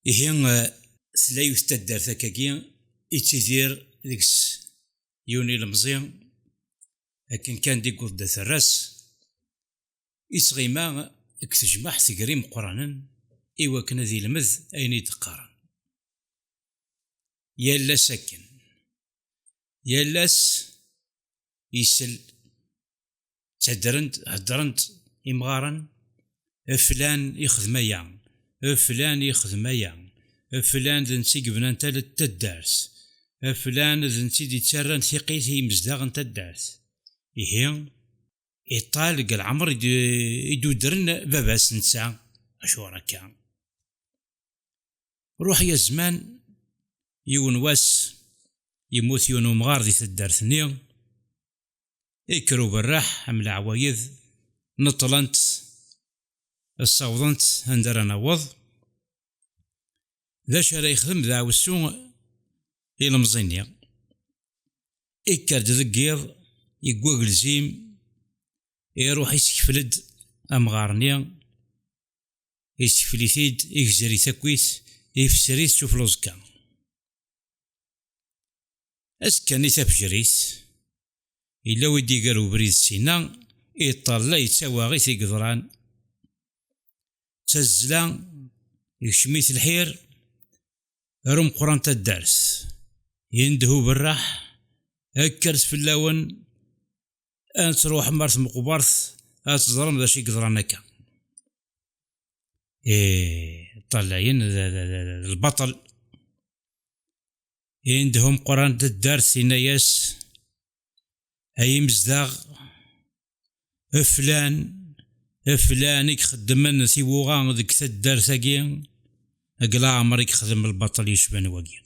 Ihi tella yiwet taddart akkagi ittidir deg-s yiwen ilemẓi akken kan di yewweḍ-d at Rras ittɣima deg tejmaɛt gar imeqqranen i wakken ad ilmed ayen i d-qqaren. Yal ass akken. Yal ass isell ttadrent heddrent imɣaren flan ixdem aya flan ixdem aya flan d nsi yebnan taddart flan d nsi d yettarran tiqit i yimezdaɣ n taddart ihi iṭal deg lɛemr i d-udren baba-s netta acuɣer akka ruḥ ya zzman yiwen wass yemmut yiwen umɣar di taddart-nni ikker uberreḥ am leɛwayed neṭṭlent ssawḍent anda ara naweḍ d acu ara yexdem daɛwessu ilemẓi-nni ikker-d deg yiḍ yeggwa gelzim iruḥ isekfel-d amɣar-nni isekfel-it-id igzer-it akkit ifser-it s ufluẓekka Azekka-nni tafejrit, yella wi d-iger ubrid sina, iṭerla yettawaɣit i yeḍran. D tazzla, ikcem-it lḥir, ar umeqqran taddart. Yendeh uberreḥ, kkret fell-awen, ad truḥem ar tmeqbert, ad teẓrem d acu i yeḍran akka. Ee, ṭṭalayen d lbaṭel. Indehum qran taddart inna-yas ay imezdaɣ flan flan i ixeddmen tiwuɣa deg taddart-agi deg leɛmer i ixdem lbaṭel yecban wagi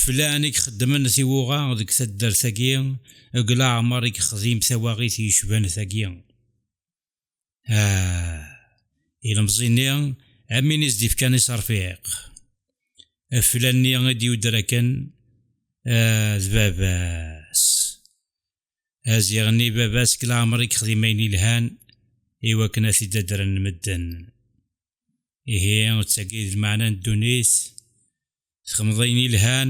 flan i ixeddmen tiwuɣa deg taddart-agi deg leɛmer i ixdim tawaɣit yecban tagi Ah, ilemẓi-nni am win i s-d-ifkan iserfiq. Aflan-nni i d-yudder akken ah, d baba-s. Aziɣ-nni baba-s deg leɛmer i yexdim ayen yelhan i wakken ad t-id-addren medden. Ihi d tagi d lmeɛna n ddunit, txedmeḍ ayen yelhan,